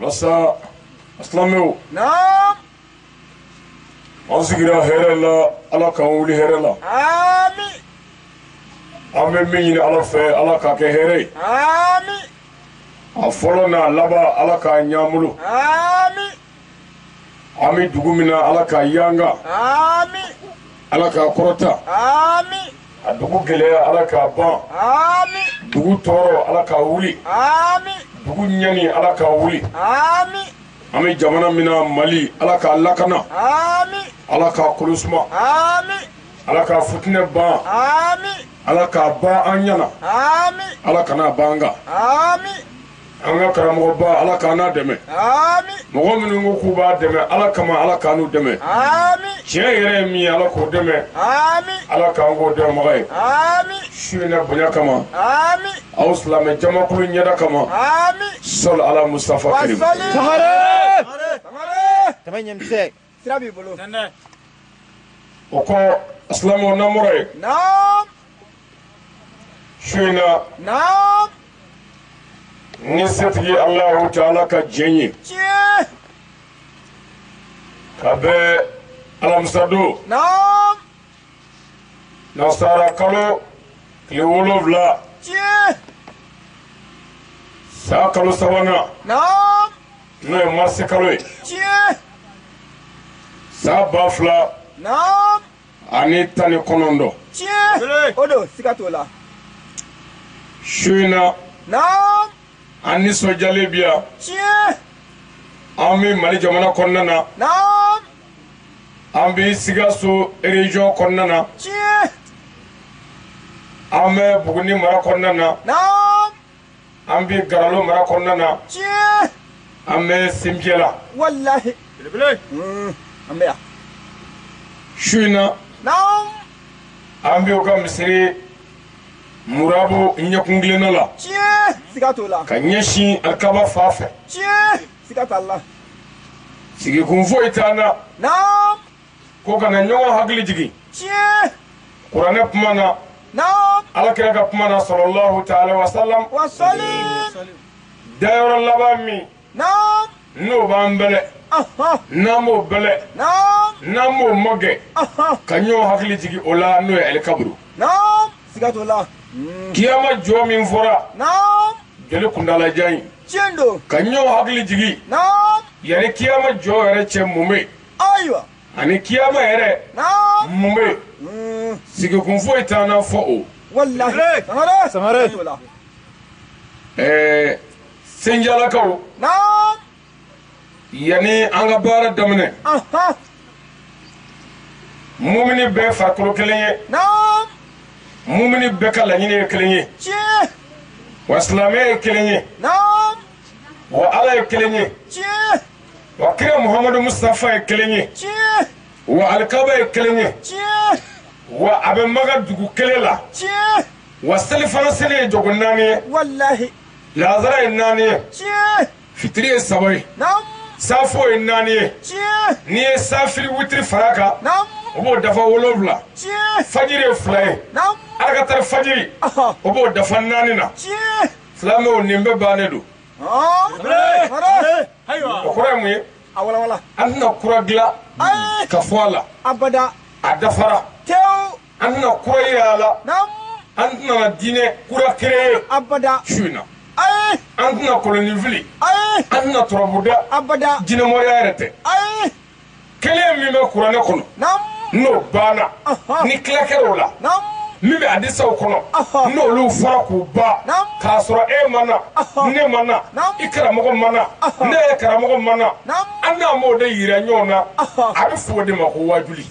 lasa silamɛw an sigira hɛrɛ la ala k'an wuli hɛrɛ la an bɛ min ɲini ala fɛ ala k'a kɛ hɛrɛ ye a fɔlɔ n'a laban ala k'a ɲɛ an bolo an bɛ dugu min na ala k'a yanga ala k'a kɔrɔta a dugu gɛlɛya ala k'a ban dugu tɔɔrɔ ala k'a wuli dugu ɲani ala k'a wuli an bɛ jamana min na mali ala k'a lakana ala k'a kolo suma ala k'a futinɛ ban ala k'a ban an ɲɛna ala kana ban an kan an ka karamɔgɔba ala k'an n'a dɛmɛ mɔgɔ minnu ko k'u b'a dɛmɛ ala kama ala k'an n'u dɛmɛ tiɲɛ yɛrɛ ye min ye ala k'o dɛmɛ ala k'an k'o dɛmɛbaga ye su in na bonya kama aw silamɛ jamakulu ɲɛda kama sɔli ala mustafa karim sira b'i bolo tɛmɛ o kɔ silamɛw namɔrɔ ye naam su in na naam ni setigi alahu taala ka jɛn ye tiɲɛ ka bɛn alamisadon naam nasara kalo tile wolonwula tiɲɛ san kalo sabanan naam n'o ye marisi kalo ye tiɲɛ san ba fila naam ani tan ni kɔnɔntɔn tiɲɛ o don siga t'o la su in na naam an nisɔndiyalen bi yan tiɲɛ an bɛ mali jamana kɔnɔna na naam an bɛ sikaso ereziyɔn kɔnɔna na tiɲɛ an bɛ buguni mara kɔnɔna na naam an bɛ garalo mara kɔnɔna na tiɲɛ an bɛ sinjɛ la walahi belebele mm, an bɛ yan su in na naam an bɛ u ka misiri murabu ɲɛkunkilenna la tiɲɛ siga t'o la ka ɲɛsin alikaba fan fɛ tiɲɛ siga t'a la sigikun foyi t'an na naam ko ka na ɲɔgɔn hakili jigin tiɲɛ kuranɛ kuma na naam ala kira ka kuma na sɔlɔlɔhu taala wasalam wa sɔli dayɔrɔ laban min naam n'o b'an bɛlɛn aha n'an b'o bɛlɛn naam n'an b'o magɛn aha ka ɲɔgɔn hakili jigin o la n'o ye alikaburu naam siga t'o la kiyama jɔ min fɔra naam jɔli kuntaalajan in tiɲɛ don ka ɲɔgɔn hakili jigin naam yanni kiyama jɔ yɛrɛ cɛ mun bɛ yen ayiwa ani kiyama yɛrɛ naa mun bɛ yen sigikun foyi t'an na fo o walahi sangare Sangare. Ayiwa. ɛɛ senjalakaw naa yanni an ka baara daminɛ aha mumini bɛɛ farikolo kelen ye naa mumini bɛɛ ka laɲini ye kelen ye tiɲɛ wa silamɛ ye kelen ye naa wa ala ye kelen ye tiɲɛ wa kira muhamadu mustafa ye kelen ye tiɲɛ wa alikaba ye kelen ye tiɲɛ wa a bɛ Maka dugu kelen la tiɲɛ wa selifana seli ye jogo naani ye walahi lazara ye naani ye tiɲɛ fitiri ye saba ye naamu safo ye naani ye tiɲɛ n'i ye safiri witiri fara a kan naamu o b'o dafa wolonwula tiɲɛ fajiri ye fila ye naamu alakatari fajiri ɔhɔ o b'o dafa naani na tiɲɛ silamɛw nin bɛɛ bannen don o kɔrɔ ye mun ye an tɛna kura dilan ka fɔ a la a dafara an tɛna kura yira a la an tɛna diinɛ kura créer su in na an tɛna kolonin fili an tɛna turabu da jinɛmoriya yɛrɛ tɛ kelen min bɛ kuranɛ kɔnɔ n'o banna ni tila kɛra o la min bɛ hadisaw kɔnɔ n'olu fɔra k'u ban k'a sɔrɔ e ma na ne ma na i karamɔgɔ ma na ne yɛrɛ karamɔgɔ ma na an n'an b'o de yira ɲɔgɔn na a bɛ fɔ o de ma ko waajuli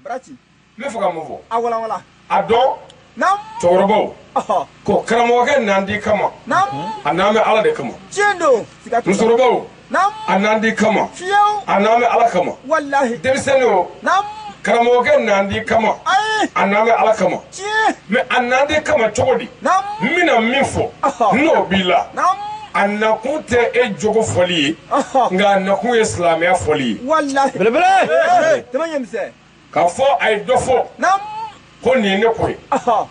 Barati. N bɛ fɛ ka mun fɔ. A walanwalan. A dɔn. Naamu. Cɛkɔrɔbaw. Ɔhɔ. Ko karamɔgɔkɛ n'an de kama. Naamu. A nalen bɛ Ala de kama. Tiɲɛ don. Siga t'o la. Musokɔrɔbaw. Naamu. A n'an de kama. Fiyew. A nalen bɛ Ala kama. Walahi. Denmisɛnninw. Naamu. Karamɔgɔkɛ n'an de kama. Ayi. A nalen bɛ Ala kama. mɛ a n'an de kama cogo di n bɛna min fɔ n'o b'i la a nakun tɛ e jogo fɔli ye nka a nakun ye silamɛya fɔli ye k'a fɔ a ye dɔ fɔ ko nin ye ne ko ye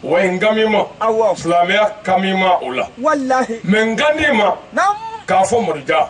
wa n kan b'i ma silamɛya kan b'i ma o la mɛ n kan t'i ma k'a fɔ mori ja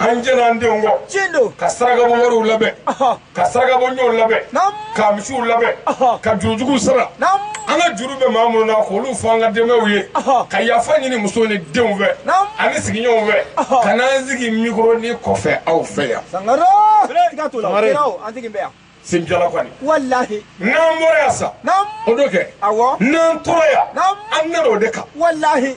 an jɛnna an denw kɔ tiɲɛ don ka sarakabɔ wariw labɛn Ɔhɔ. ka sarakabɔ ɲɔw labɛn Naamu. ka misiw labɛn Ɔhɔ. ka juru juguw sara Naamu. an ka juru bɛ maa minnu na k'olu fɔ an ka denbayaw ye Ɔhɔ. ka yafa ɲini musow ni denw fɛ Naamu. ani sigiɲɔgɔnw fɛ Ɔhɔ. ka n'an sigi mikoro nin kɔfɛ aw fɛ yan sangare siga t'o la o Sangare. kɛra o an tigi bɛ yan senjala kɔni walahi n'an bɔra yan sa naamu o don kɛ awɔ n'an tora yan Naamu. an nana o de kan walahi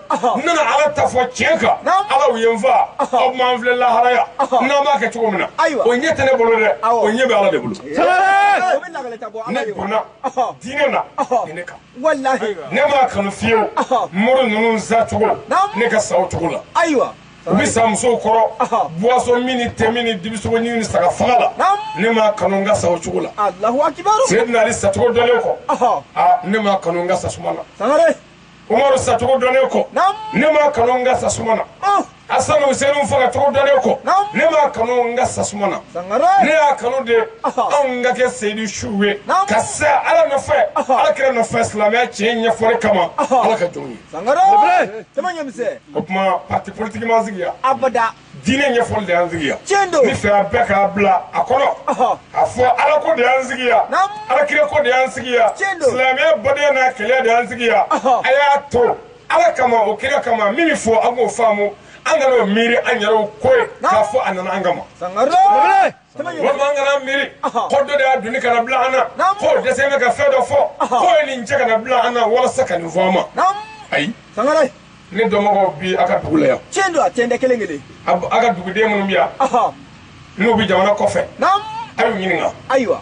n nana ala ta fɔ tiɲɛ kan Naamu. ala u ye n fa aw m'an filɛ lahara yan n'an b'a kɛ cogo min na Ayiwa. o ɲɛ tɛ ne bolo dɛ Awɔ. o ɲɛ bɛ ala de bolo o bɛ lagale ta bɔ ala ne ye o. donna Ɔhɔ. diinɛ na Ɔhɔ. ni ne kan walahi ne m'a kanu fiyewu Ɔhɔ. mori ninnu sa cogo Naamu. ne ka sa o cogo la ayiwa u bɛ sa musow kɔrɔ Ɔhɔ. boisson min ni te min ni dibisogo ɲimi ni saga faga la Naamu. ne m'a kanu n ka sa o cogo la alahu akibaru seyidina ali sacogo dɔnnen kɔ ɔhɔ aa ne m'a kanu n ka sa suma na sangare umaru sacogo dɔnnen kɔ ne m'a kanu n ka sa suma na asanu usenu faga cogo dɔnnen kɔ ne m'a kanu n ka sa suma na ne y'a kanu de anw ka kɛ seyidu suw ye ka sa ala nɔfɛ ala kira nɔfɛ silamɛya tiɲɛ ɲɛfɔli kama ala ka jɔnw ye o tuma pati politiki m'an sigi yan abada diinɛ ɲɛfɔli de y'an sigi yan tiɲɛ don n'i fɛ a bɛɛ ka bila a kɔnɔ a fɔ ala ko de y'an sigi yan ala kira ko de y'an sigi yan silamɛya badenya n'a kɛlɛ de y'an sigi yan a y'a to ala kama o kira kama min fɔ an k'o faamu an kana o miiri an yɛrɛw ko ye k'a fɔ a nana an kama walima an kana miiri ko dɔ de y'a doni ka na bila an na k'o dɛsɛnen bɛ ka fɛn dɔ fɔ k'o ye nin cɛ ka na bila an na walasa ka nin fɔ an ma ayi ne dɔnbagaw bi a ka dugu la yan tiɲɛ don a tɛntɛ kelen kelen a ka duguden minnu bɛ yan n'u bɛ jamana kɔfɛ a y'u ɲininka ayiwa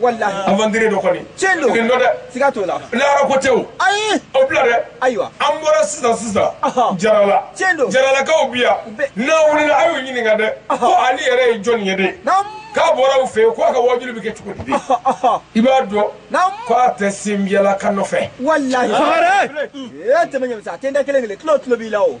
walahi aventurier dɔ kɔni tiɲɛ don nin dɔ dɛ siga t'o la lahara ko tɛ ayi o bila dɛ ayiwa an bɔra sisan sisan jarala tiɲɛ don jaralakaw bi yan n'a wulila a y'u ɲininka dɛ ko ale yɛrɛ ye jɔni ye de k'a bɔra u fɛ yen ko a ka wajuuli bɛ kɛ cogo di i b'a dɔn ko a tɛ senbiyalakaw nɔfɛ walahi tɛmɛ ɲamisa a tɛ n da kelen kelen tulo tulo b'i la o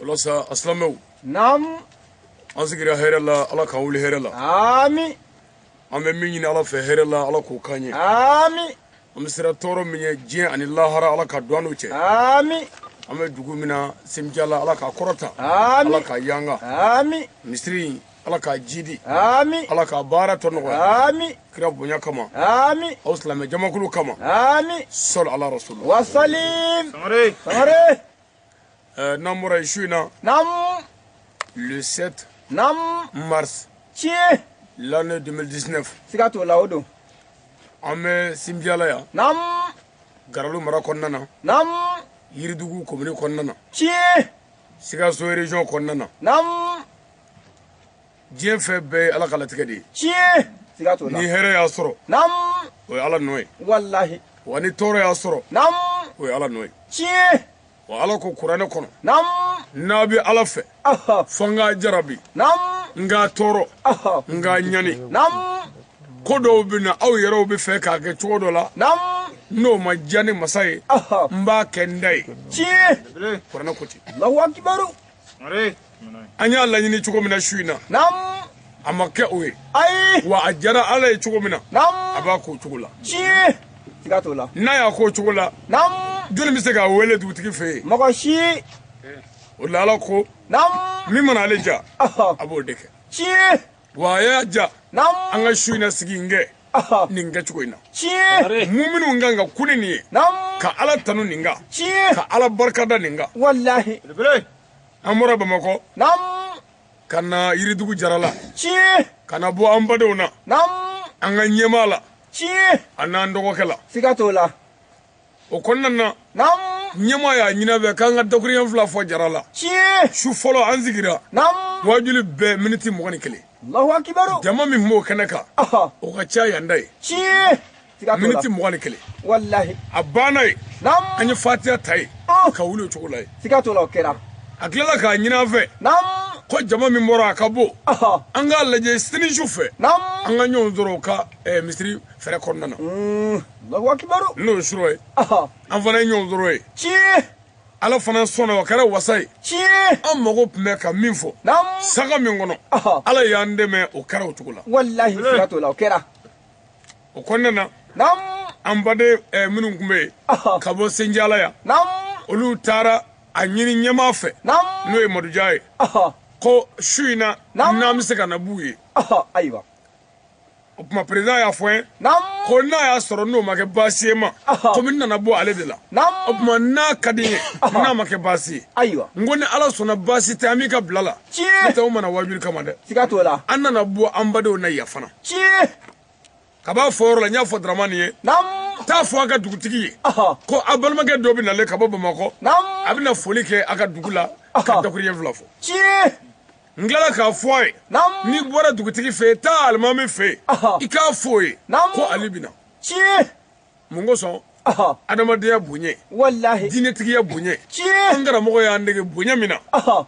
o la sa silamɛw naam an sigira hɛrɛ la ala k'an wuli hɛrɛ la ami an bɛ min ɲini ala fɛ hɛrɛ la ala k'o k'an ye ami an bɛ siran tɔɔrɔ min ɲɛ diɲɛ ani lahara ala ka don an n'u cɛ ami an bɛ dugu min na senbiyala ala k'a kɔrɔta ami ala k'a yanga ami misiri ala k'a jidi ami ala k'a baara tɔ nɔgɔya ami kira bonya kama ami aw silamɛ jamakulu kama ami sɔli ala rasul wasalim sangare sangare Euh, n'an bɔra yen su in na. naamu. le 7. naamu. mars. tiɲɛ. l'année 2019. siga t'o la o don. an bɛ sinbiyala yan. naamu. garalo mara kɔnɔna na. naamu. yiridugu komini kɔnɔna na. tiɲɛ. sikaso région kɔnɔna na. naamu. diɲɛ fɛn bɛɛ ye ala ka latigɛ de ye tiɲɛ siga t'o la ni hɛrɛ y'a sɔrɔ nam o ye ala nɔ ye walahi wa ni tɔɔrɔ y'a sɔrɔ nam o ye ala nɔ ye tiɲɛ wa ala ko kuranɛ kɔnɔ nam n'a bɛ ala fɛ aha fo n k'a jarabi nam n k'a tɔɔrɔ aha n k'a ɲani nam ko dɔw bɛ na aw yɛrɛw bɛ fɛ k'a kɛ cogo dɔ la nam n'o ma diya ne masa ye aha n b'a kɛ n ta ye tiɲɛ kuranɛ ko ten allahu akibaru an y'a laɲini cogo min na su in na a ma kɛ o ye wa a jara ala ye cogo min na a b'a k'o cogo la n'a y'a k'o cogo la jɔni bɛ se k'a wele dugutigi fɛ yen mɔgɔ si o la ala ko min mana ale ja a b'o de kɛ wa a y'a ja an ka su in na sigi in kɛ nin kɛcogo in na tiɲɛ muminu kan ka kuli nin ye ka ala tanu nin kan tiɲɛ ka ala barika da nin kan walahi an bɔra bamakɔ ka na yiridugu jarala tiɲɛ ka na bɔ an badenw na an ka ɲɛmaa la tiɲɛ a n'an dɔgɔkɛ la siga t'o la o kɔnɔna na ɲɛmaa y'a ɲini an fɛ k'an ka dakurunɲɛ fila fɔ jarala su fɔlɔ an sigira waajuli bɛɛ miniti mugan ni kelen jama min b'o kɛnɛ kan o ka ca yan ta ye miniti mugan ni kelen a banna ye an ye fatiya ta ye ka wuli o cogo la ye a tilala k'a ɲini an fɛ ko jama min bɔra a ka bon an k'a lajɛ sini su fɛ an ka ɲɔgɔn sɔrɔ u ka misiri fɛrɛ kɔnɔna na Allahu akibaru n'o ye surɔ ye an fana ye ɲɔgɔn sɔrɔ ye tiɲɛ ala fana sɔnna o kɛra wasa ye tiɲɛ an mago tun bɛ ka min fɔ sanga min kɔnɔ ala y'an dɛmɛ o kɛra o cogo la walahi siga t'o la o kɛra o kɔnɔna na an baden eh, minnu tun bɛ yen ka bɔ senjala yan olu taara a ɲini ɲɛmaa fɛ n'o ye maduja ye ko su in na n'an bɛ se ka na b'u ye ayiwa o tuma président y'a fɔ n ye ko n'a y'a sɔrɔ n'o ma kɛ baasi ye n ma komi n nana bɔ ale de la o tuma n'a ka di n ye n'a ma kɛ baasi ye ayiwa n ko ni ala sɔnna baasi tɛ an b'i ka bila la n'o tɛ n ma na waajuli kama dɛ siga t'o la an nana bɔ an badenw na yan fana ka b'a fɔ yɔrɔ la n y'a fɔ daramani ye t'a fɔ a ka dugutigi ye ko a balimakɛ dɔ bɛ nalen ka bɔ bamakɔ a bɛna foli kɛ a ka dugu la ka dakurunɲɛ fila fɔ n tilala k'a fɔ a ye n'i bɔra dugutigi fɛ yen taa alimami fɛ yen i k'a fɔ o ye ko ale bɛ na tiɲɛ mun kosɔn adamadenya bonya walahi diinɛtigiya bonya tiɲɛ an karamɔgɔ y'an dege bonya min na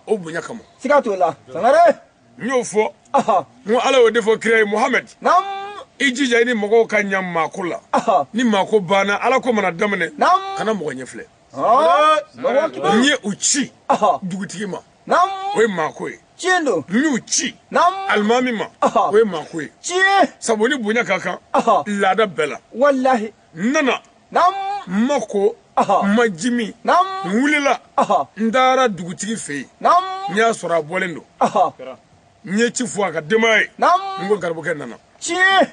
o bonya kama siga t'o la sangare n y'o fɔ n ko ala y'o de fɔ kira ye muhamɛdi i jija i ni mɔgɔw ka ɲa maako la ni maako banna ala ko mana daminɛ kana mɔgɔ ɲɛfilɛ n ye u ci dugutigi ma o ye maako ye tiɲɛ don n y'u ci alimami ma o ye maako ye tiɲɛ sabu ni bonya ka kan laada bɛɛ la walahi n nana n ma ko n ma ji min n wulila n taara dugutigi fɛ yen n y'a sɔrɔ a bɔlen don n ye ci fɔ a ka denbaya ye n ko garibukɛ nana tiɲɛ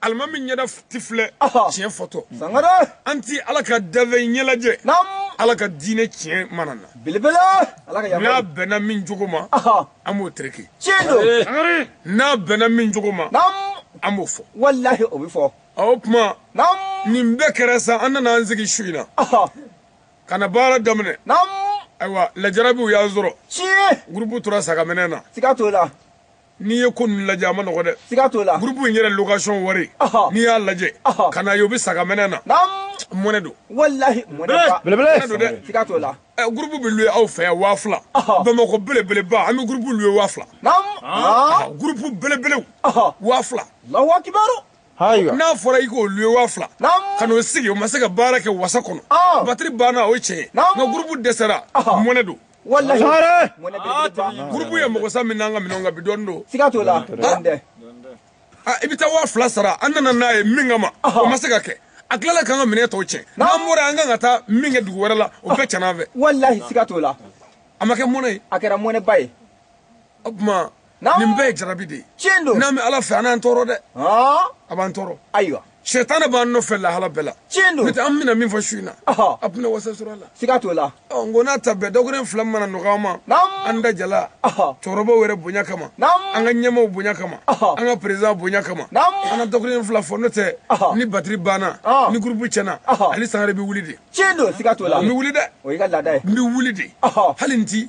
alimami ɲɛda ti filɛ tiɲɛ fɔtɔ an ti ala ka danfɛn ɲɛ lajɛ ala ka diinɛ tiɲɛ mana na n'a bɛnna min jogo ma an b'o tereke n'a bɛnna min jogo ma an b'o fɔ walahi o bɛ fɔ o tuma nin bɛɛ kɛra sa an nana an sigi su in na ka na baara daminɛ ayiwa lajarabiw y'an sɔrɔ gurupu tora sa ka mɛnɛ na n'i ye ko ninnu lajɛ a ma nɔgɔ dɛ siga t'o la gurupu in yɛrɛ location wari n'i y'a lajɛ ka na ye o bɛ sa ka mɛnɛ na mɔnɛ don walahi mɔnɛ belebele don dɛ siga t'o la gurupu bɛ luwe aw fɛ yan waa fila bamakɔ belebeleba an bɛ gurupu luwe waa fila gurupu belebelew waa fila alahu akibaru n'a fɔra i k'o luwe waa fila ka n'o sigi o ma se ka baara kɛ wasa kɔnɔ batiri banna o ye tiɲɛ ye nka gurupu dɛsɛra mɔnɛ don walahi gurupu ye mɔgɔ sa min n'an ka minɛnw kan bi don siga t'o la i bɛ taa waa fila sara an nana n'a ye min kama o ma se ka kɛ a tilala k'an ka minɛn tɔw tiɲɛ n'an bɔra an kan ka taa min kɛ dugu wɛrɛ la o bɛɛ tiɲɛna an fɛ walahi siga t'o la a ma kɛ mɔnɛ ye a kɛra mɔnɛba ye o tuma nin bɛɛ ye jarabi de ye tiɲɛ don n'an bɛ ala fɛ an n'an tɔɔrɔ dɛ a b'an tɔɔrɔ ayiwa sɛtanɛ b'an nɔfɛ lahala bɛɛ la tiɲɛ don n'o tɛ an bɛna min fɔ su in na a tɛna wasa sɔrɔ a la siga t'o la ɔ n ko n'a ta bɛɛ dɔgɔkun fila mana nɔgɔya an ma an da jala cɛkɔrɔbaw yɛrɛ bonya kama an ka ɲɛmaaw bonya kama an ka perezan bonya kama an ka dɔgɔkun fila fɔ n'o tɛ ni batiri banna ni gurupu tiɲɛna ne sangare bɛ wuli de tiɲɛ don siga t'o la n bɛ wuli dɛ o y'i ka laada ye n bɛ wuli de hali n ti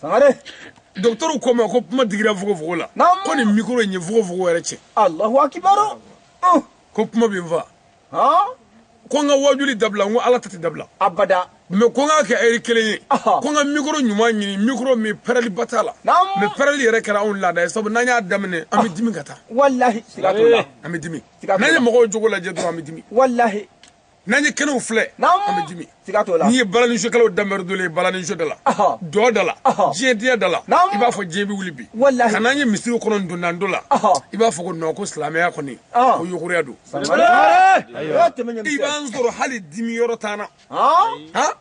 sangare dɔgɔtɔrɔw ko n ma ko kuma digira fogofogo la ko nin mikoro in ye fogofogo yɛrɛ tiɲɛ alahu akibaru ko kuma bɛ n fa ko n ka wajuli dabila n ko ala ta tɛ dabila abada mɛ ko n k'a kɛ ɛri kelen ye ko n ka mikoro ɲuman ɲini mikoro min pɛrɛliba t'a la mɛ pɛrɛli yɛrɛ kɛra anw laada ye sabu n'an y'a daminɛ an bɛ dimi ka taa walahi an bɛ dimi n'an ye mɔgɔw jogo lajɛ dɔrɔn an bɛ dimi walahi n'an ye kɛnɛw filɛ an bɛ dimi n'i ye balaninsokɛlaw danbɛrɛ dole ye balaninso da la dɔn da la diɲɛ diya da la i b'a fɔ diɲɛ bɛ wuli bi nka n'an ye misiriw kɔnɔ dondando la i b'a fɔ ko non ko silamɛya kɔni ko yogoroya don i b'an sɔrɔ hali dimi yɔrɔ t'an na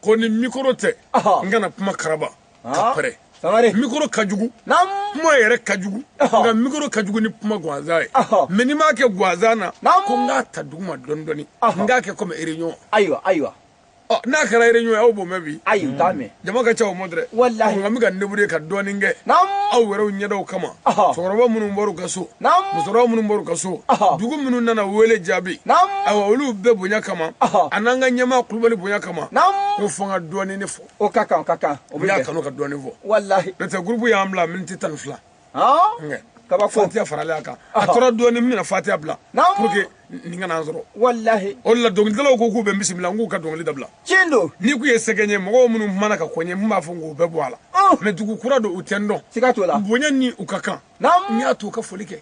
ko ni mikoro tɛ n kana kuma karaba ka pɛrɛn Sangare. Mikoro ka jugu. Naam. Kuma yɛrɛ ka jugu. Nka mikoro ka jugu ni kuma ganzan ye. Mais n'i m'a kɛ ganzan na. Naam. Ko n k'a ta duguma dɔɔni dɔɔni. N k'a kɛ comme réunion. Ayiwa ayiwa. Ɔ n'a kɛra réunion ye aw b'o mɛn bi. Ayi u t'a mɛn. Jama ka ca o ma dɛ. Walahi. Nka n bɛ ka n débrouiller ka dɔɔni kɛ. Naam. Aw yɛrɛw ɲɛdaw kama. Cɛkɔrɔba minnu bɔr'u ka so. musokɔrɔba minnu bɔr'u ka so dugu minnu nana wele jaabi ayiwa olu bɛɛ bonya kama a n'an ka ɲɛmaa kulubali bonya kama ko fo n ka dɔɔnin ne fɔ o ka kan ka kan o y'a kanu ka dɔɔnin fɔ walahi n'o tɛ gurupu y'an bila miniti tan ni fila kaba fatiya faralen a kan a tora dɔɔnin min bɛna fatiya bila pour que nin kana an sɔrɔ walahi o de la dɔnkilidalaw ko k'u bɛ n bisimila n k'u ka dɔnkili dabila tiɲɛ don n'i k'u ye sɛgɛn ye mɔgɔw minnu mana ka kɔɲɛ n b'a fɔ k'u bɛɛ bɔ a la mɛ dugu kura don u tɛ n dɔn siga t'o la bonya ni u ka kan n y'a to ka foli kɛ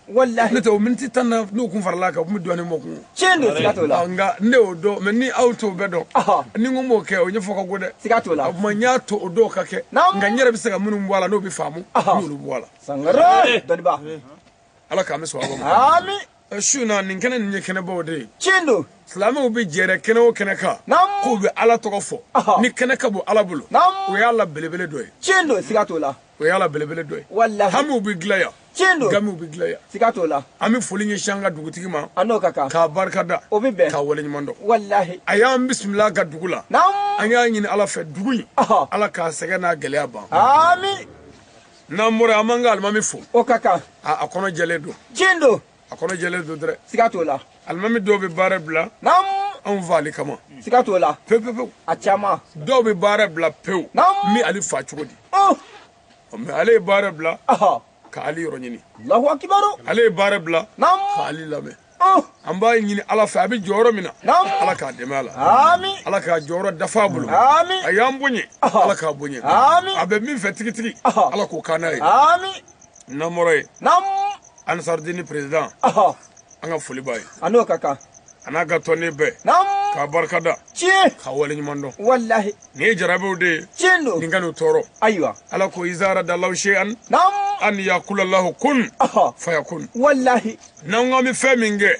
ne tɛ o miniti tan na n'u kun farala kan u tun bɛ dɔɔnin mɔ kun tiɲɛ don siga t'o la nka ne y'o dɔn mɛ ni aw t'o bɛɛ dɔn ni n kun m'o kɛ o ɲɛfɔ ka go dɛ siga t'o la o tuma n y'a to o dɔw ka kɛ nka n yɛrɛ bɛ se ka minnu bɔ a la n'o bɛ faamu n y'olu bɔ a la sangare dɔnniba ala k'an bɛɛ sɔn a ma ami su na nin kɛnɛ nin ye kɛnɛbaw de ye tiɲɛ don silamɛw bɛ jɛɛrɛ kɛnɛ o kɛnɛ kan k'u bɛ ala tɔgɔ fɔ nin kɛnɛ ka bon ala bolo o y'a la belebele dɔ ye tiɲɛ don siga t'o la o y'a la belebele dɔ ye walahi hamiw bɛ dilan yan tiɲɛ don gamiw bɛ dilan yan siga t'o la an bɛ foli ɲɛsin an ka dugutigi ma a n'o ka kan k'a barika da o bɛ bɛn k'a waleɲuman dɔn walahi a y'an bisimila a ka dugu la an y'a ɲini ala fɛ dugu in ala k'a sɛgɛn n'a gɛlɛya ban amin n'an bɔra an b'an ka alimami fo o ka kan a kɔnɔ jɛlen don tiɲɛ don a kɔnɔ jɛlen don dɛrɛ siga t'o la alimami dɔw bɛ baara bila naamu anw fa ali kama siga t'o la pewu pewu pewu a caman dɔw bɛ baara bila pewu naamu n bɛ ali fa cogo di ɔ mɛ ale ye baara bila ka ali yɔrɔ ɲini alahu akibaru ale ye baara bila naamu ka ali lamɛn an b'a ɲini ala fɛ a bɛ jɔyɔrɔ min na ala k'a dɛmɛ a la ala k'a jɔyɔrɔ dafa a bolo a y'an bonya ala k'a bonya a bɛ min fɛ tigitigi ala k'o kan n'a ye n'an bɔra yen anisarudini perezidan an ka foli b'a ye a n'o ka kan a n'a ka tɔnden bɛɛ k'a barika da tiɲɛ ka waleɲuman dɔn walahi nin ye jarabiw de ye tiɲɛ don nin kan'u tɔɔrɔ ayiwa ala ko iza aradalahu seyan an yakula lahu kun fayakun walahi n'an ko an bɛ fɛn min kɛ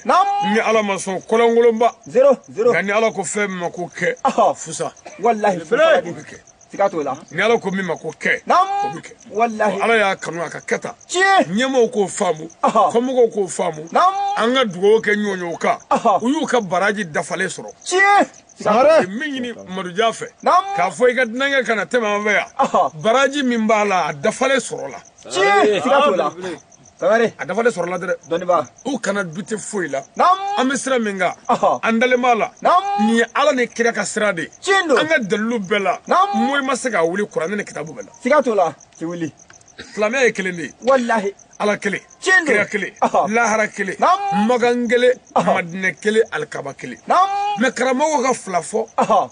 ni ala ma sɔn kolonkolonba nka ni ala ko fɛn min ma ko kɛ fusa walahi fusa bɛ kɛ siga t'o la ni ala ko min ma ko kɛ o bɛ kɛ walahi ala y'a kanu a ka kɛ tan ɲɛmɔgɔw k'o faamu kɔmɔgɔw k'o faamu an ka dugawu kɛ ɲɔɲɔw kan u y'u ka baraji dafalen sɔrɔ sangare min ɲini madujan fɛ k'a fɔ i ka dunankɛ kana tɛmɛ an fɛ yan baraji min b'a la a dafalen sɔrɔla siga t'o la sangare a dafalen sɔrɔla dɛrɛ dɔnnibaa u kana dute foyi la an bɛ sira min kan an dalen b'a la nin ye ala ni kira ka sira de ye an ka dalilu bɛɛ la moyi ma se k'a wuli kuranɛ ni kitabu bɛɛ la siga t'o la ti wuli silamɛya ye kelen de ye walahi ala kelen kira kelen lahara kelen makan kelen madinɛ kelen alikaba kelen mɛ karamɔgɔ ka fila fɔ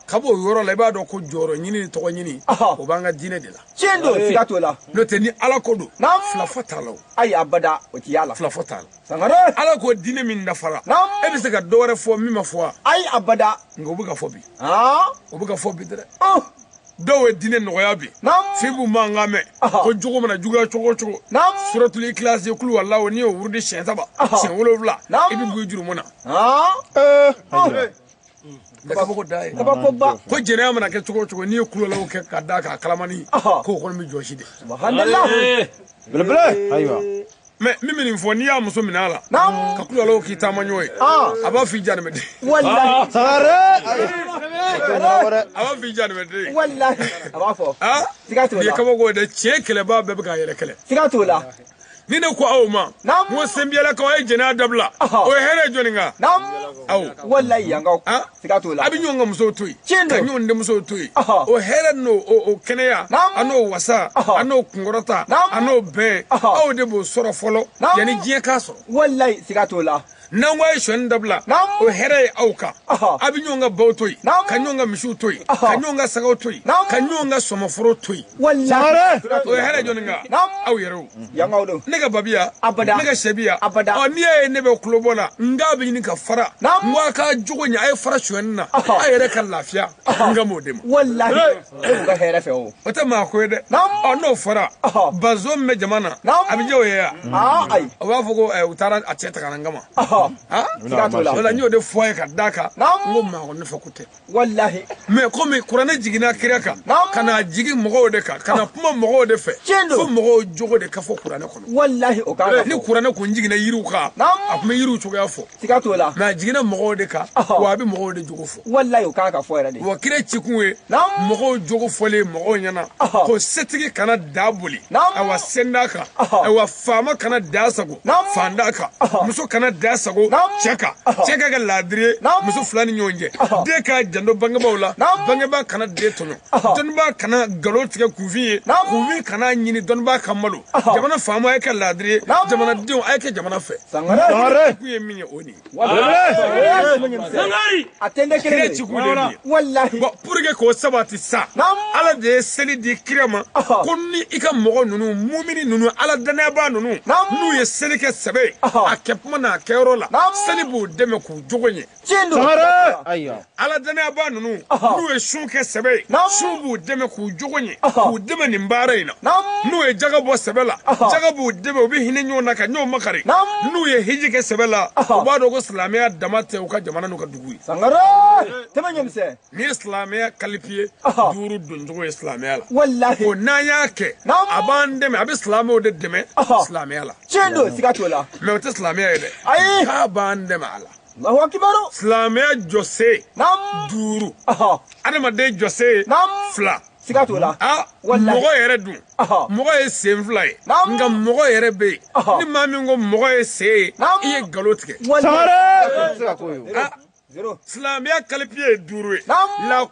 ka b'o yɔrɔ la i b'a dɔn ko jɔyɔrɔ ɲini ni tɔgɔ ɲini o b'an ka diinɛ de la tiɲɛ don siga t'o la n'o tɛ ni ala ko don filafɔ t'a la o ayi abada o ti y'a la filafɔ t'a la sangare ala ko diinɛ min dafara e bɛ se ka dɔ wɛrɛ fɔ min ma fɔ wa ayi abada nka o bɛ ka fɔ bi o bɛ ka fɔ bi dɛrɛ dɔw ye diinɛ nɔgɔya bi f'i b'u mankan mɛn ko jogo mana juguya cogo cogo suratuli ikilasi kuluwalahu n'i y'o wurudi siɲɛ saba siɲɛ wolonfila i bɛ b'i jurumu na kabako ko jɛnɛya mana kɛ cogo cogo n'i ye kuluwalahu kɛ ka da k'a kalamani k'o kɔni bɛ jɔsi de belebele ayiwa mɛ min bɛ nin fɔ n'i y'a muso minɛ a la ka kuluwalahu k'i taamaɲɔgɔn ye a b'a f'i janimɛden a b'a f'i janimɛden i ye kabako de tiɲɛ kɛlɛbaa bɛɛ bɛ k'a yɛrɛ kɛlɛ ni ne ko aw ma n ko senbiyalakaw a ye jɛnɛya dabila o hɛrɛ jɔni kan aw walayi yankaw siga t'o la a bɛ ɲɔgɔn ka musow to yen ka ɲɔgɔn denmusow to yen o hɛrɛ n'o kɛnɛya an'o wasa an'o kunkɔrɔta an'o bɛn aw de b'o sɔrɔ fɔlɔ yanni diɲɛ k'a sɔrɔ walayi siga t'o la n'an ko a ye son dabila o hɛrɛ ye aw kan a bɛ ɲɔgɔn ka baw to yen ka ɲɔgɔn ka misiw to yen ka ɲɔgɔn ka sagaw to yen ka ɲɔgɔn ka sɔmɔforo to yen o hɛrɛ jɔni kan aw yɛrɛw ne ka ba bɛ yan ne ka syɛ bɛ yan ɔ n'i y'a ye ne bɛ kulobɔ la n k'a bɛ ɲini ka fara n ko a ka jogo ɲɛ a ye fara son na a yɛrɛ ka lafiya n kan b'o de ma e ka hɛrɛ fɛ o o tɛ maa ko ye dɛ ɔ n'o fɔra bazo min bɛ jama na a bɛ jɛ o ye ya ayi o b'a fɔ ko u taara a cɛ ta ka na n kama o la n y'o de fɔ a ye ka d'a kan n ko maa ko ne fɛ ko tɛ walahi mɛ komi kuranɛ jiginna kira kan ka na jigin mɔgɔw de kan ka na kuma mɔgɔw de fɛ fo mɔgɔw jogo de ka fɔ kuranɛ kɔnɔ walahi o ka ni kuranɛ kun jiginna yiriw kan a tun bɛ yiriw cogoya fɔ siga t'o la mɛ a jiginna mɔgɔw de kan wa a bɛ mɔgɔw de jogo fɔ walayi o kan ka fɔ yɛrɛ de wa kira cikun ye mɔgɔw jogo fɔlen mɔgɔw ɲɛ na ko setigi kana da boli awa setan kan awa faama kana dansagon faantan kan muso kana dansagon cɛ kan cɛ ka kɛ laadiri ye muso fila ni ɲɔgɔn cɛ den ka janto bangebaaw la bangebaa kana den tɔɲɔ dɔnnibaa kana nkalon tigɛ kunfin ye kunfin kana ɲini dɔnnibaa ka malo jamana faamaw a ye kɛ laadiri ye jamanadenw a ye kɛ jamana fɛ kun ye min ye o nin kira ci kun de ye bon pour que k'o sabati sa ala de ye seli di kira ma ko ni i ka mɔgɔ ninnu mumini ninnu ala dannayabaa ninnu n'u ye seli kɛ sɛbɛ ye a kɛtuma n'a kɛyɔrɔ la seli b'u dɛmɛ k'u jogo ɲɛ tiɲɛ don sangare ayiwa ala dannayabaa ninnu n'u ye sun kɛ sɛbɛ ye sun b'u dɛmɛ k'u jogo ɲɛ k'u dɛmɛ nin baara in na n'u ye jaga bɔ sɛbɛ la jaga b'u dɛmɛ u bɛ hinɛ ɲɔgɔn na ka ɲɔgɔn makari n'u ye hiji kɛ sɛbɛ la u b'a dɔn ko silamɛya dama tɛ u ka jamana n'u ka dugu ye sangare tɛmɛ ɲɛmisɛn nin ye silamɛya kalipiye duuru doncogo ye silamɛya la walahi o n'an y'a kɛ a b'an dɛmɛ a bɛ silamɛw de dɛmɛ silamɛya la tiɲɛ don siga t'o la mais o tɛ silamɛya ye dɛ ayi k'a b'an dɛmɛ a la Alahu akibaru. Silamɛya jɔse. Naamu. Duuru. Ɔhɔ. Adamaden jɔse. Naamu. Fila. Siga t'o la. Aa. Walahi. Mɔgɔ yɛrɛ dun. Ɔhɔ. Mɔgɔ ye sen fila ye. Naamu. Nka mɔgɔ yɛrɛ bɛ yen. Ɔhɔ. Ni maa min ko mɔgɔ ye sen ye. Naamu. I ye nkalon tigɛ. Walahi. Sangare. Siga t'o ye. Aa. Zero. Silamɛya kalipiye ye duuru ye. Naamu. La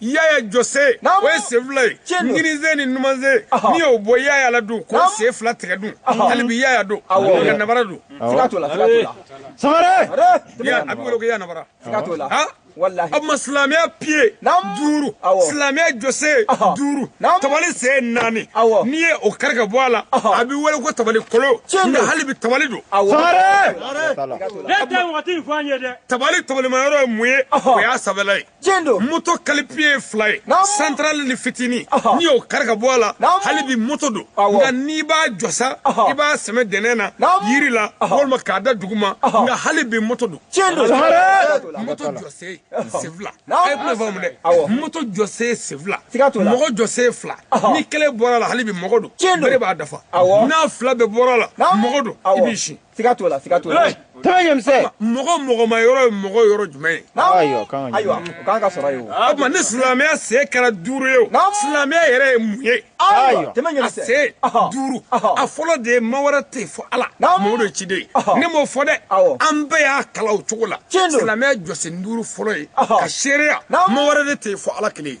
yaya jɔse o ye sen fila ye kininsen ni numansen n'i y'o bɔ yaya la dun k'o sen fila tigɛ dun hali bi yaya don nka nabara don sangare a bɛ wele ko yaya nabara o tuma silamɛya piye duuru silamɛya jɔse duuru tabali sen naani n'i ye o kari ka bɔ a la a bɛ wele ko tabali kolon nka hali bi tabali don tabali tabalimayɔrɔ ye mun ye o y'a sanfɛla ye tiɲɛ don moto kalipiye ye fila ye central ni fitini n'i y'o kari ka bɔ a la hali bi moto don nka n'i b'a jɔ sa i b'a sɛmɛ dɛnɛn na yiri la walima k'a da duguma nka hali bi moto don tiɲɛ don moto jɔse sen fila a ye kuma faamu dɛ moto jɔse sen fila mɔgɔ jɔse fila ni kelen bɔra la hali bi mɔgɔ don tiɲɛ don bere b'a dafa n'a fila bɛɛ bɔra la mɔgɔ don i b'i si siga t'o la siga t'o la tɛmɛ ɲɛmisɛ mɔgɔ mɔgɔmayɔrɔ ye mɔgɔ yɔrɔ jumɛn ye ayiwa ayiwa o kan ka sɔrɔ ye o o tuma ni silamɛya se kɛra duuru ye o silamɛya yɛrɛ ye mun ye ayiwa tɛmɛ ɲɛmisɛ a se duuru a fɔlɔ de ye ma wɛrɛ tɛ fo ala mɔhamɛdi ciden ye ne m'o fɔ dɛ an bɛɛ y'a kalan o cogo la silamɛya jɔsen duuru fɔlɔ ye ka seereya ma wɛrɛ de tɛ fo ala kelen ye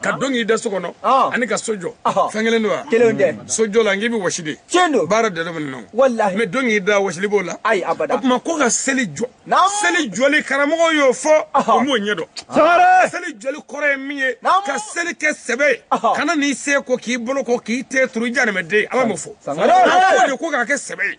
ka don k'i da so kɔnɔ ah. ani ka so jɔ ah. fɛn kelen don wa kelen tɛ mm. so jɔ la n k'i bɛ wɔsi de tiɲɛ don baara de don walahi mais don k'i da wɔsili b'o la ayi abada o tuma ko ka seli jɔ seli jɔli karamɔgɔ y'o fɔ o m'o ɲɛ dɔn sangare seli jɔli kɔrɔ ye min ye ka seli kɛ sɛbɛ ye ka na n'i sen ko k'i bolo ko k'i ten turu i janimɛden ala m'o fɔ sangare ko de ko k'a kɛ sɛbɛ ye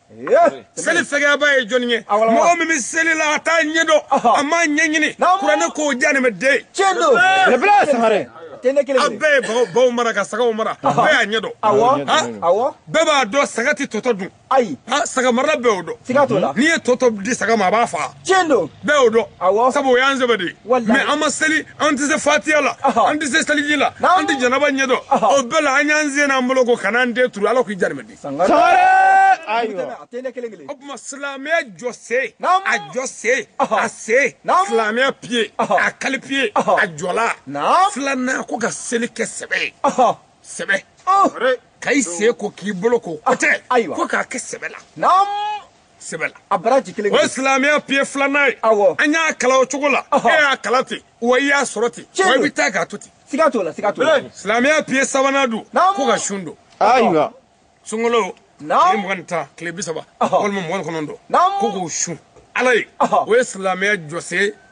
seli fɛgɛyabaa ye jɔni ye mɔgɔ min bɛ seli la a t'a ɲɛ dɔn a m'a ɲɛɲini kuranɛ k'o ye jahanama den ye tiɲɛ don a bɛɛ ye baw baw mara ka sagaw mara bɛɛ y'a ɲɛ dɔn bɛɛ b'a dɔn saga tɛ to tɔ dun ayi saga marala bɛɛ y'o dɔn siga t'o la n'i ye to tɔ di saga ma a b'a faga tiɲɛ don bɛɛ y'o dɔn sabu o y'an sɛbɛ de ye mɛ an bɛ seli an tɛ se fatiya la an tɛ se seliji la an tɛ janaba ɲɛ dɔn o bɛɛ la an y'an sen n'an bolo ko ka n'an ten turu ala k'i jarimɛ di o tuma silamɛya jɔsen a jɔsen a sen silamɛya piye a kalipiye a jɔla filanan ko ka seli kɛ sɛbɛ sɛbɛ ka i sen ko k'i bolo ko ko tɛ ko k'a kɛ sɛbɛ la sɛbɛ la a baraji kelen o ye silamɛya piye filanan ye awɔ an y'a kalan o cogo la e y'a kalan ten wa i y'a sɔrɔ ten wa i bɛ taa k'a to ten siga t'o la siga t'o la silamɛya piye sabanan don ko ka sun don ayiwa sunkalo tile mugan ni tan tile bi saba walima mugan ni kɔnɔntɔn ko k'o sun ala ye o ye silamɛya jɔsen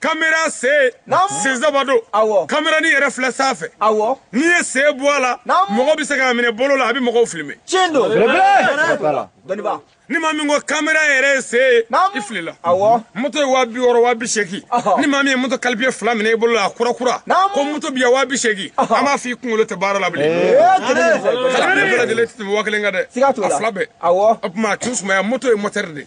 kamera sen sen saba don kamera nin yɛrɛ filɛ sanfɛ n'i ye sen bɔ a la mɔgɔ bɛ se k'a minɛ bolo la a bɛ mɔgɔw filime ni maa min ko kamera yɛrɛ ye sen ye i filila moto ye waa bi wɔɔrɔ waa bi seegin ni maa min ye moto kalipiye fila minɛ i bolo la a kura kura ko moto bɛ yan waa bi seegin an b'a fɔ i kunkolo tɛ baara la bilen bɛɛ lajɛlen tɛ tɛmɛ waa kelen kan dɛ a fila bɛɛ o tuma a tun sumaya moto ye mɔtɛri de ye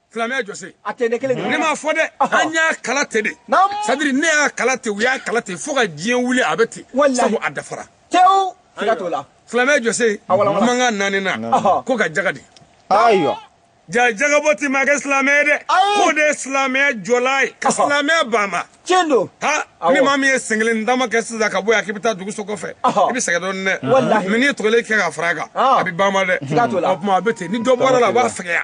silamɛya jɔsen a tɛ ne kelen ne m'a fɔ dɛ an y'a kalan ten de sadiri ne y'a kalan ten u y'a kalan ten fo ka diɲɛ wuli a bɛ ten sabu a dafara tewu siga t'o la silamɛya jɔsen mankan naaninan ko ka jaga di ayiwa ja jagabɔ tɛ maa kɛ silamɛ ye dɛ k'o de ye silamɛya jɔla ye ka silamɛya banban tiɲɛ don ha ni maa min ye sen kelen dama kɛ sisan ka bɔ yan k'i bɛ taa dugu so kɔfɛ i bɛ sɛgɛn dɔɔnin dɛ mɛ n'i ye tɔ kelen kɛ ka fara a kan a bɛ banban dɛ o tuma a bɛ ten ni dɔ bɔra la a b'a fɛgɛya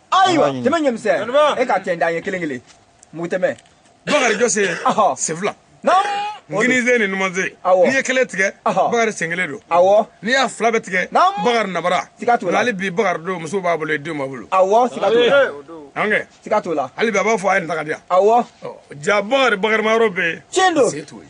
ayiwa tɛmɛ ɲɛmisɛn e ka tɛn dan ye kelen kelen mugu tɛmɛ bakari jɔsen sen fila kininsen ni numansen n'i ye kelen tigɛ bakari sen kelen don awɔ n'i y'a fila bɛɛ tigɛ bakari nabara siga t'o la hali bi bakari don muso b'a bolo denw b'a bolo awɔ siga t'o la an kɛ siga t'o la hali bi a b'a fɔ a ye nin ta ka di yan awɔ ja bakari bakari ma yɔrɔ bɛ yen tiɲɛ don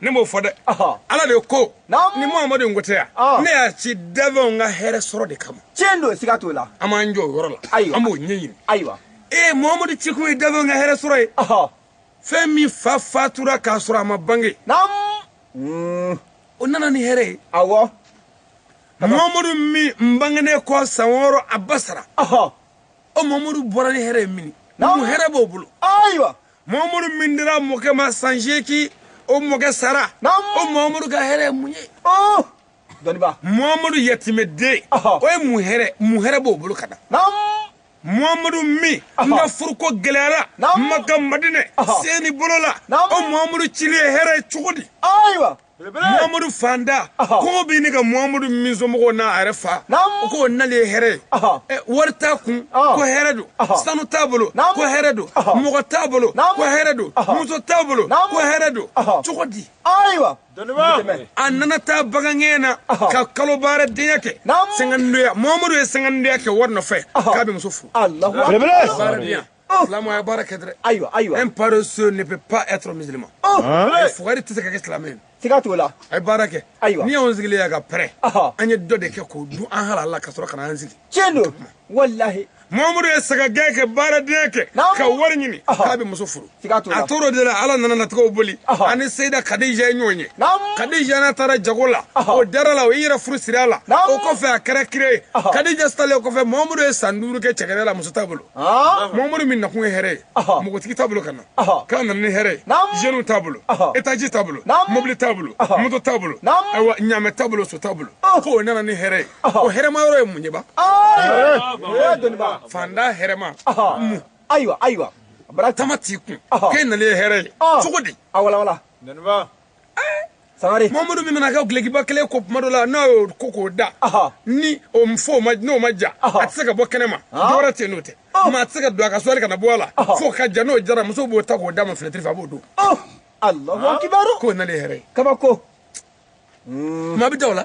ne m'o fɔ dɛ ala de ko ni muhamadu in ko tɛ yan ne y'a ci danfɛnw ka hɛrɛ sɔrɔ de kama tiɲɛ don siga t'o la an b'an jɔ o yɔrɔ la an b'o ɲɛɲini ayiwa ee muhamadu cikun ye danfɛnw ka hɛrɛ sɔrɔ ye fɛn min fa fatura k'a sɔrɔ a ma bange mm. o nana ni hɛrɛ ye awɔ muhamadu min bangenen kɔ san wɔɔrɔ a ba sara o muhamadu bɔra ni hɛrɛ ye mini mun hɛrɛ b'o bolo ayiwa muhamadu min dira mɔkɛ ma san seegin o mɔkɛ sara o muhamadu ka hɛrɛ ye mun ye oh! dɔnniba muhamadu yatimɛden o ye mun hɛrɛ mun hɛrɛ b'o bolo ka d'an ma muhamadu min ka furuko gɛlɛyara maka madinɛ seni bolo la o muhamadu cili ye hɛrɛ ye cogo di ayiwa muhamadu faantan ko bɛ ne ka muhamadu min somɔgɔw n'a yɛrɛ fa o k'o nali ye hɛrɛ ye wari t'a kun ko hɛrɛ don sanu t'a bolo ko hɛrɛ don mɔgɔ t'a bolo ko hɛrɛ don muso t'a bolo ko hɛrɛ don cogo di ayiwa a nana taa bagangɛn na ka kalo baaradenya kɛ sɛgɛndoya muhamadu ye sɛgɛndoya kɛ wari nɔfɛ k'a bɛ muso furu Oh. silamɛya baara kɛ dɛrɛ ayiwa ayiwa un paresseux ne peut pas être musulman fugari tɛ se ka kɛ silamɛ ye siga t'o la a ye baara kɛ ayiwa n'i y'anw sigilen ye ka pɛrɛn an ye dɔ de kɛ k'o dun an halala ka sɔrɔ ka na an sigi tiɲɛ don walahi mamadu ye sagagɛn kɛ baaradenya kɛ ka wari ɲini k'a bɛ muso furu a tor'o de la ala nana latigɛw boli ani seyida kadija ye ɲɔgɔn ye kadija n'a taara jago la o dar'a la o y'i yɛrɛ furu siri a la o kɔfɛ a kɛra kira ye kadija salen o kɔfɛ mamadu ye san duuru kɛ cɛgɛdɛ la muso t'a bolo mamadu min nakun ye hɛrɛ ye mɔgɔtigi t'a bolo ka na k'a nana ni hɛrɛ ye jeunes t'a bolo etaji t'a bolo mobili t'a bolo moto t'a bolo ayiwa ɲaamɛ t'a bolo so t'a bolo ko o nana ni hɛrɛ ye o hɛrɛma yɔrɔ ye mun ye ba faantan hɛrɛma mun ayiwa ayiwa bara tama t'i kun k'e nalen ye hɛrɛ ye cogo di sangare mamadu min nana ka dulɔkiba kelen ko tuma dɔ la n'a y'o ko k'o da ni o n'o ma ja a tɛ se ka bɔ kɛnɛ ma dɔwɛrɛ tɛ n'o tɛ maa a tɛ se k'a don a ka sɔli kana bɔ a la fo k'a ja n'o jara muso b'o ta k'o d'a ma finɛtiri fɛ a b'o don alahu akibaru k'o nalen hɛrɛ ye kabako maa bɛ da o la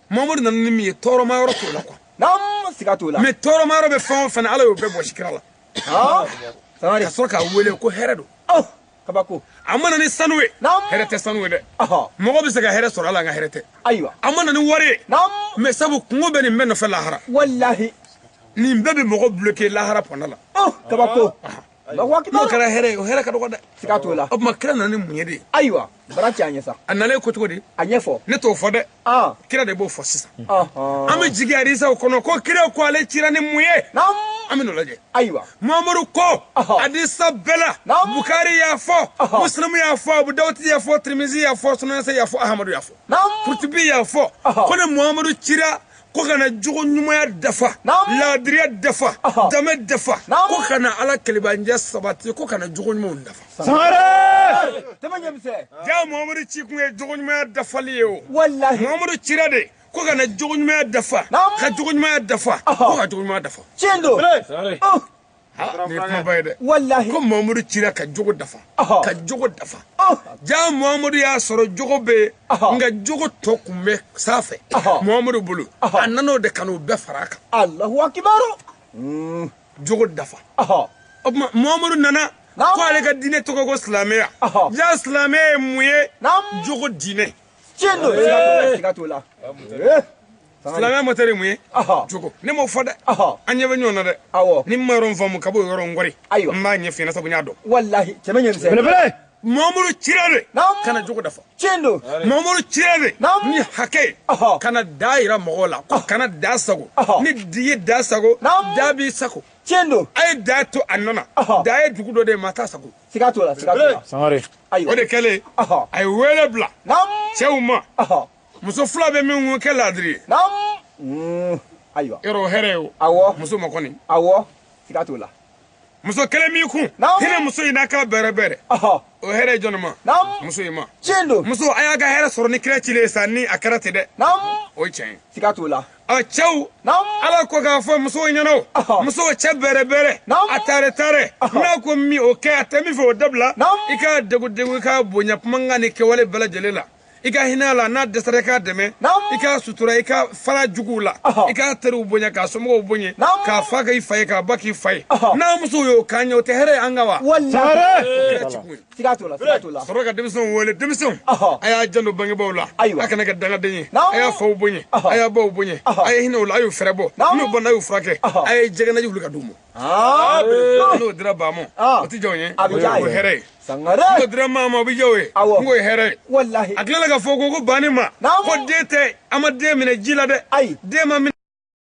mamadu nana ni min ye tɔɔrɔma yɔrɔ t'o la kuwa naam siga t'o la mɛ tɔɔrɔma yɔrɔ bɛ fɛn o fɛn na ala y'o bɛɛ bɔsi kira la ah, ka sɔrɔ k'a wele ko hɛrɛ don oh, kabako a ma na ni sanu ye hɛrɛ tɛ sanu ye dɛ mɔgɔ bɛ se ka hɛrɛ sɔrɔ a la nka hɛrɛ tɛ ayiwa a ma na ni wari ye mɛ sabu kunko bɛ nin bɛɛ nɔfɛ lahara walahi nin bɛɛ bɛ mɔgɔ bloke lahara pɔn da la oh, kabako n'o kɛra hɛrɛ ye o hɛrɛ ka dɔgɔ dɛ siga t'o la o tuma kira nana ni mun ye de ayiwa bara cɛ a ɲɛ sa a nalen ko cogo di a ɲɛfɔ ne t'o fɔ dɛ kira de b'o fɔ sisan an bɛ jigi hadisaw kɔnɔ ko kira ko ale cira ni mun ye an bɛn'o lajɛ ayiwa mamadu ko hadisa bɛɛ la bukari y'a fɔ musilimu y'a fɔ abu dawuti y'a fɔ tirimisi y'a fɔ sunanse y'a fɔ ahamadu y'a fɔ kurutibi y'a fɔ ko ne mamadu cira ko ka na jogo ɲumanya dafa laadiriya dafa danbe dafa ko ka na ala kelen bonya sabati ko ka na jogo ɲumanw dafa jaa mamadu ci kun ye jogo ɲumanya dafali ye o mamadu cira de ko ka na jogo ɲumanya dafa ka jogo ɲumanya dafa ko ka jogo ɲumanya dafa tiɲɛ don walahi ko mamadu cira ka jogo dafa ka jogo dafa ja mamadu y'a sɔrɔ jogo bɛ nka jogo tɔ kun bɛ sanfɛ mamadu bolo a nan'o de ka n'o bɛɛ fara a kan alahu akibaru hmm. jogo dafa o tuma mamadu nana ko ale ka diinɛ tɔgɔ ko silamɛya ja silamɛya ye mun ye jogo diinɛ tiɲɛ don siga t'o la silamɛya mɔtɛri ye mun ye jogo ne m'o fɔ dɛ an ɲɛ bɛ ɲɔgɔn na dɛ awɔ n'i ma yɔrɔ min faamu ka b'o yɔrɔ n kɔri ayiwa n b'a ɲɛf'i ɲɛna sabu n y'a dɔn walahi cɛmɛ ɲɛ misɛn belebele mamadu cira de ka na jogo dafa tiɲɛ don mamadu cira de ni hakɛ ka na dan yira mɔgɔw la ko kana dan sagon n'i ye dan sagon dan b'i sagon tiɲɛ don a ye dan to a nɔ na dan ye dugu dɔ de ye maa t'a sagon siga t'o la siga t'o la sangare o de kɛlen a ye wele bila cɛw ma muso fila bɛ min ko kɛ laadiri ye mm, ayiwa yɔrɔ o hɛrɛ ye o awɔ muso ma kɔni awɔ siga t'o la muso kelen b'i kun hinɛ muso in na ka bɛrɛ bɛrɛ o hɛrɛ ye jɔnni ma muso in ma tiɲɛ don musow a y'a ka hɛrɛ sɔrɔ ni kira cilen ye sa ni a kɛra ten dɛ o ye tiɲɛ ye siga t'o la a cɛw ala ko k'a fɔ musow ɲɛna o musow cɛ bɛrɛ bɛrɛ a taare taare n'a ko min o kɛ a tɛ min fɛ o dabila i k'a degun degun i k'a bonya kumakan ni kɛwale bɛɛ lajɛlen la i ka hinɛ a la n'a dɛsɛra i k'a dɛmɛ i k'a sutura i ka far'a juguw la i k'a teriw bonya k'a somɔgɔw bonya k'a fa k'i fa ye k'a ba k'i fa ye n'a musow y'o k'an ye o tɛ hɛrɛ ye an ka wa sɔrɔ ka denmisɛnw wele denmisɛnw a y'a janto bangebaaw la a kana kɛ dangaden ye a y'a faw bonya a y'a baw bonya a ye hinɛ o la a y'u fɛrɛ bɔ n'u banna a y'u furakɛ a ye jɛgɛnaji wuli ka d'u ma Ah, Abdul. n'o dira ba ma Ah. o tɛ diya o ye A bɛ diya a o ye ye. hɛrɛ ye sangare n'o dira maa ma o bɛ diya o ye Awɔ. n k'o ye hɛrɛ ye walahi a tilala ka fɔ ko ko banni ma Naamu. ko den tɛ an ma den minɛ ji la dɛ Ayi. den ma minɛ